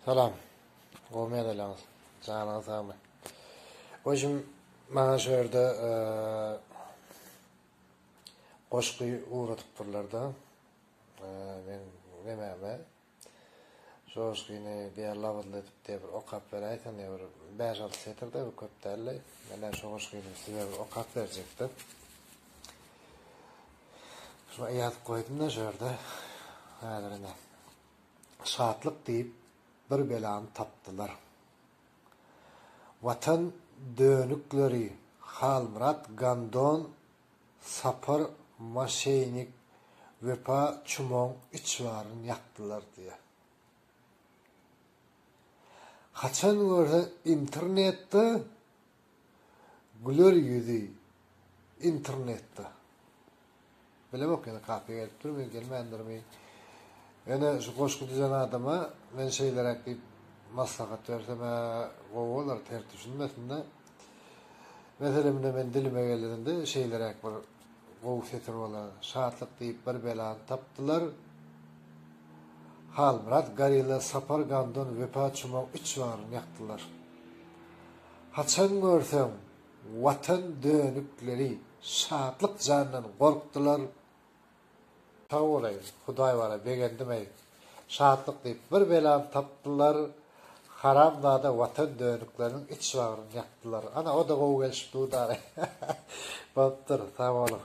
Salam. Gowy mezeläňiz. Janyňyz sag bolsun. Özüm maňa şu ýerde goşgy ugradypdyrlar-da. Men nämäme şu goşgyny diýen labyzly edip diýip bir okap beräýseň diýip bir bäş-alty setirde bir köp däldi. Mende şu goşgyny size bir okap berjekdi. Şuňa ýazyp goýdum-da şu ýerde. Häzir ine. Şatlyk diýip bir belany tapdylar. Watan dönükleri Halmyrat Gandon, Sapar Maşeýnik, Wepa Çumoň üç baryn ýakdylar diýýär. Haçan görseň internetde Güler ýüzi internetde. Bilemok ýene kaka gelipdirmi, gelmändirmi. Ýöne şu goşgy düzen adama men şeýleräk diýip maslahat bersem-ä gowy bolar, ters düşünmesin-de. Meselem indi men dilime geleninde şeýleräk bir gowy setir bolar. Şatlyk diýip bir belany tapdylar. Halmyrat Garilla Sapar Gamdan Wepa Çumaw üç baryny ýakdylar. Haçan görseň watan dönükleri şatlyk jandan gorkdylar. Sag bolaý hudaý bara begendimeý şatlyk diýip bir belany tapdylar haramzada watan dönükleriniň iç bagryny ýakdylar ana oda gowy gelişip dudary bopdur sag boluň.